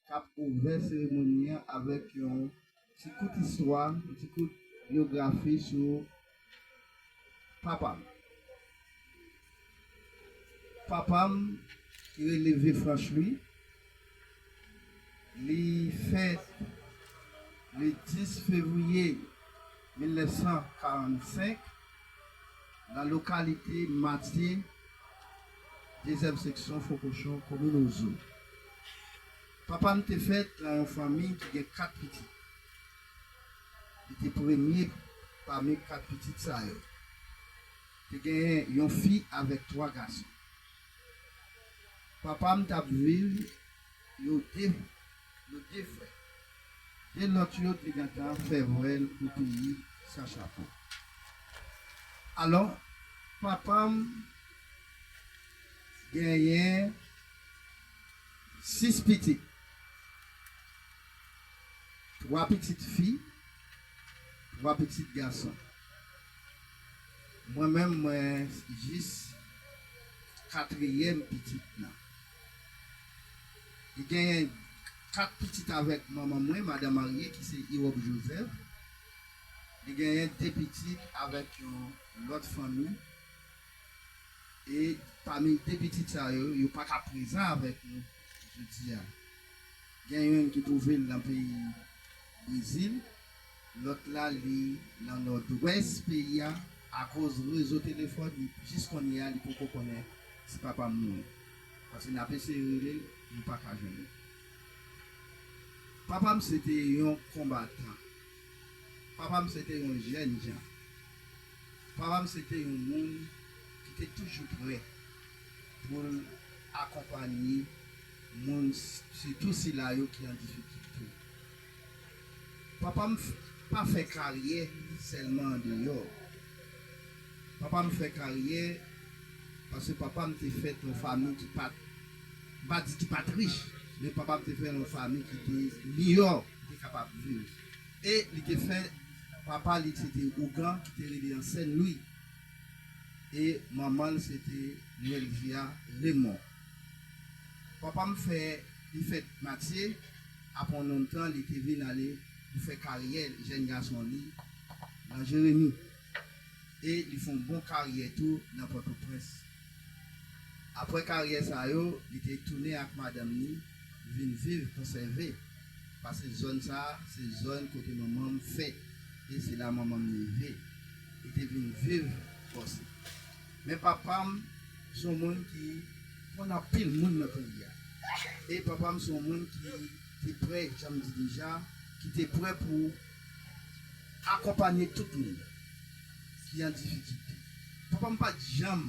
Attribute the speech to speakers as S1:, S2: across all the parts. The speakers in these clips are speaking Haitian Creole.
S1: k ap ouvè seremoni an avèk yon ti kout istwa, yon ti kout byografi sou papa m. Papa m ki rele Vefranch Lwi, li fèt le 10 fevriye 1945 nan lokalite Matye, Dezyèm seksyon Fo kochon komin Ozo Papa m te fèt nan yon fanmi ki gen kat pitit. Li te premye pami kat pitit sa yo. Te genyen yon fi avèk twa gason. Papa m t ap viv. Yo de Yo de frè. Gen lòt yo te gentan fè vwèl pou peyi san chapo. Alò, papa m genyen sis pitit. Twa pitit fi, twa pitit gason. Mwen menm mwen jis katriyèm pitit nan. M gen 4 pitit avèk manman mwen, madan marye ki se Irob Joseph. Li genyen 2 pitit avèk yon lòt fanmi. E pami 2 pitit sa yo, yo pa ka prezan avèk nou jodi a. Gen youn ki twouve l nan peyi Brezil. Lòt la li nan nòdwès peyi a akoz rezo telefòn li jis kounye a li poko konnen si papa m mouri paske n ap eseye rele l nou pa ka jwenn li papa m se te yon konbatan papa m se te yon jèn jan papa m se te yon moun ki te toujou prè pou l akonpanye moun sitou sila yo ki an difikilte. Papa m pa fè karyè sèlman andeyò. Papa m fè karyè paske papa m te fèt yon fanmi ki pa t, m pa di ki pa t rich, men papa m te fèt yon fanmi ki te miyò li te kapab viv. E li te fè papa li se te ougan ki te rele an Sèn Lwi e manman l se te Nwèlvya Remon. Papa m fè li fèt Matye apre yon nonm tan li te vin ale pou fè karyè jèn gason li nan Jeremi e li fè yon bon karyè tou nan Pòtoprens. Apre karyè sa yo li te tounen ak madanm ni vin viv Konsève pase zòn sa se zòn kote manman m fèt e se la manman m leve. Li te vin viv Fòse. Men papa m se yon moun ki konn anpil moun nan peyi a. E papa m se yon moun ki te prè, jan m di deja, ki te prè pou akonpanye tout moun ki an difikilte. Papa m pa t janm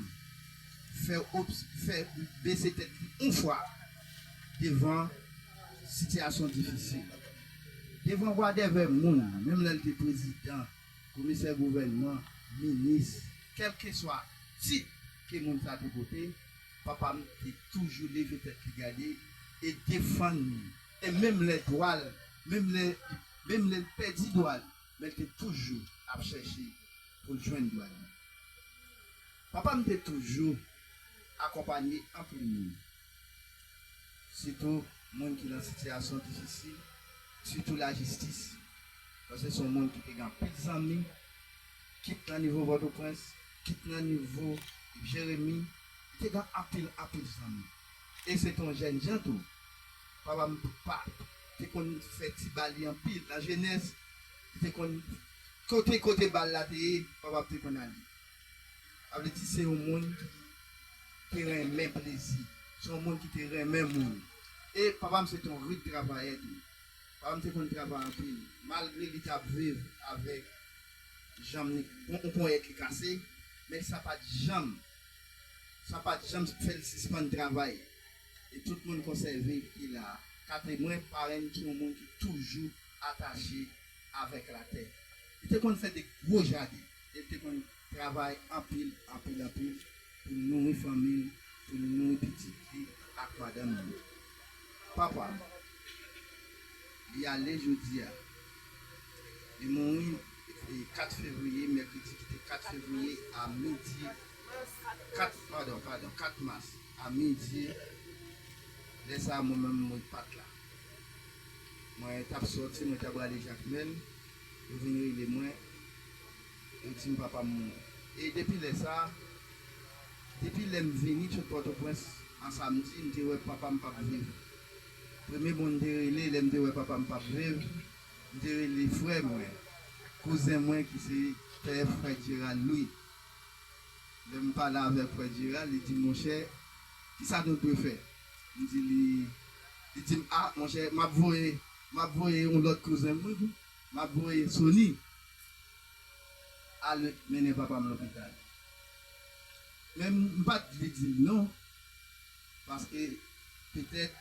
S1: fè fè bese tèt li yon fwa devan sitiyasyon difisil, devan wadèvè moun, menm lè l te prezidan. Komisè gouvènman, minis, kèlkeswa tit ke moun sa te pote, papa m te toujou leve tèt li gade e defann li. E menm lè dwa l, menm lè li, menm lè l pèdi dwa li, men l te toujou ap chèche pou l jwenn dwa li. Papa m te toujou akonpanye anpil moun. sitou moun ki nan sitiyasyon difisil, sitou lajistis, paske se yon moun ki te gen anpil zanmi, kit nan nivo Pòtoprens, kit nan nivo Jeremi, li te gen anpil, anpil zanmi. E se te yon jènjan tou. Papa m te konn fè ti ba li anpil. Nan jenès, li te konn, kote kote bal la te ye, papa m te konn ale. Sa vle di se yon moun ki renmen plezi, se yon moun ki te renmen moun. E papa m se te yon rid travayè tou. Papa m te konn travay anpil. Malgre li t ap viv avèk janm li, yon ponyèt li kase, men sa pa t janm, sa pa t janm fè l sispann travay. E tout moun konsève ki la a ka temwen parenn ki yon moun ki toujou atache avèk latè. Li te konn fè de gwo jaden. E l te konn travay anpil, anpil, anpil pou l nouri fanmi l, pou l nouri pitit li ak madanm li. Papa m, li ale jodi a. Li mouri 4 fevriye, mèkredi ki te 4 fevriye a midi, 4, padon, padon, 4 mas a midi. Lè sa a mwen menm mwen pa t la. Mwen t ap soti, mwen t aprale Jakmèl. Yo vin rele mwen, yo di m papa m mouri. E depi lè sa a, depi lè m vini sot Pòtoprens an samdi, m te wè papa m pa p viv. Premye moun m te rele lè m te wè papa m pa p viv, m te rele frè mwen, kouzen mwen ki se pè frè Jeral Lwi. Lè m pale avèk frè Jeral, li di m, monchè, kisa nou dwe fè? M di li, li di m, a, monchè, m ap voye. Map voye yon lot kouzen mwen tou map voye sony ale mennen papam lopital men mpat vle dil non paske petèt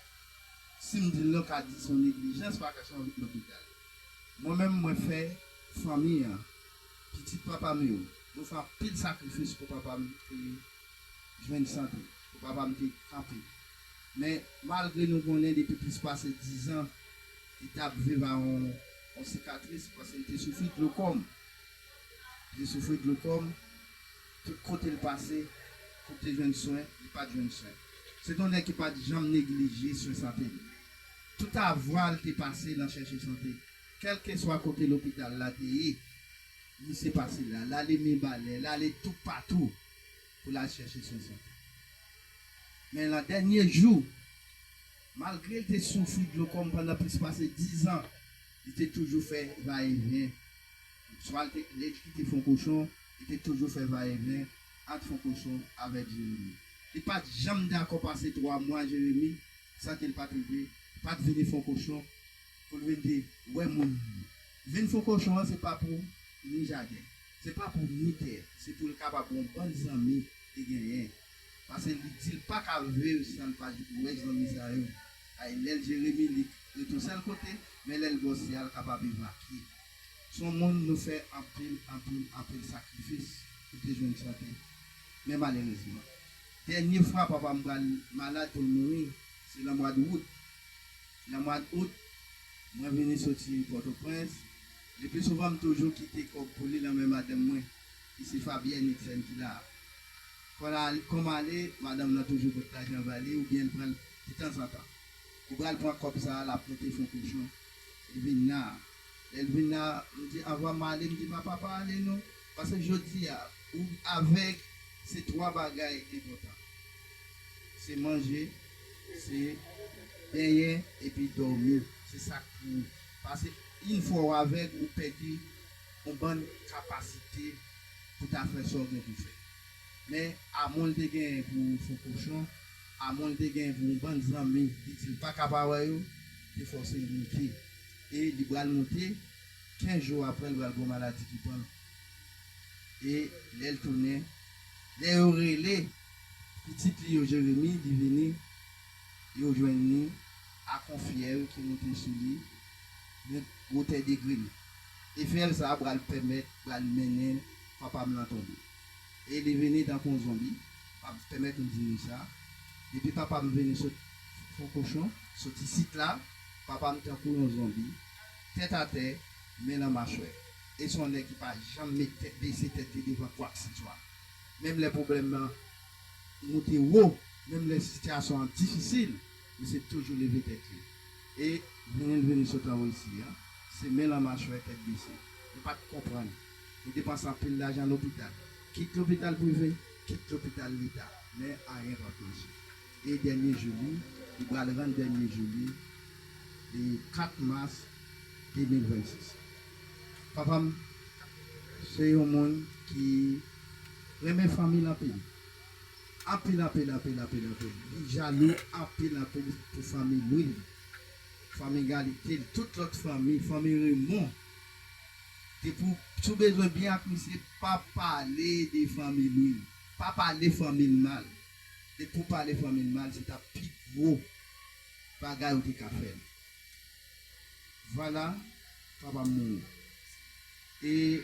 S1: sim dil non ka di son neglijans paske son lopital mwen menm mwen fè fanmi an pitit papam yo mwen fè anpil sakrifis pou papam te jwenn sante pou papam te kanpe. Men, malgre nou konnen depi plis pase dizan li t ap viv ak yon sikatris paske li te soufri glokòm, li te soufri glokòm, tout kote l pase pou l te jwenn swen, li pa t jwenn swen. Se te yon nèg ki pa t janm neglije swen sante li. Tout avwa l te pase nan chèche sante. Kèlkeswa kote lopital la te ye, misye pase la. L ale Mibalè, l ale toupatou. pou l al chèche Jezi. Men, nan dènye jou, malgre l te soufri glokòm pandan plis pase dizan, li te toujou fè va-e-vyen. Swa l te lèd ki te fonkochon, li te toujou fè va-e-vyen ant fonkochon avèk Jeremi. Li pa t janm dakò pase twa mwa Jeremi san ke l pa t rive, pa t vini fonkochon pou l vin di, Wè moun! Vin fonkochon an se pa pou ni jaden. Se pa pou Router, se pou l kapab yon bann zanmi li genyen. Pase li di l pa ka viv san l pa wè zanmi sa yo. Ay lè l jere Milik ret yon sèl kote, men lè l bò Sya l kapab evakye. S on moun nou fè anpil, anpil, anpil sakrifis pou te jwenn sante. Men malerezman. Dènye fwa papa m pral malad pou l mouri, se lan mwad Wout. Lan mwad Out, mwen vini soti Pòtoprens. Le plus souvent m toujou kite kob pou li lan men madanm mwen ki se Fabyèn Niksèn ki la a. Kon la kòm ale madanm lan toujou pot lajan ba li ou byen l pran l de tanzantan. Li pral pran kòb sa a l ap mete fon kochon li vin la a. Lè l vin la a m di anvan m ale m di papa pa ale non pase jodi a ou avèg se 3 bagay enpòtan se manje se benyen epi dòmi se sa k pou ou. Pase yn fwa w avèg ou pèdi on bann kapasite pou ta fè sa w gen pou fè. Men amon l te genyen pou fo kochon, amon l te genyen pou on bann zanmi li di l pa ka pa wè yo, te fòse l moute. E li pral moute, 15 jou aprè l pral gon maladi ki pran l. E lè l tounen, lè yo rele pitit li yo Jeremi, li vini. Yo jwenn li ak yon fyèl ki monte sou li men gwo tè degre l. E fyèl sa a pral pèmèt, pral mennen papa m lan tonbe. E li vini tankou yon zonbi, pap, pèmèt m di nou sa, depi papa m vini sot Fon Kochon, sot isit la, papa m tankou yon zonbi, tèt atè, men lan machwè. E se yon nèg ki pa janm met tèt, bese tèt li devan kwakseswa. Menm lè pwoblèm lan. moute wo menm lè sitiyasyon an difisil misye toujou leve tèt li e vini l vini sot an Russie an se men lan machwè tèt bese nou pa t konprann li depanse anpil lajan lopital kit lopital prive kit lopital leta men anyen pa p mache e dènye jou li li pral rann dènye jou li le 4 mas 2026. Papa m se yon moun ki renmen fanmi l anpil. Anpil, anpil, anpil, anpil, anpil. Li jalou anpil, anpil pou fanmi Lwi l, fanmi Galite l, tout lòt fanmi, fanmi Remon. Depi w, si w bezwen byen ak misye, pa pale de fanmi Lwi l. Pa pale fanmi l mal. Depi w pale fanmi l mal, se ta pi gwo bagay ou te ka fè l. Vwala, papa m mouri. E.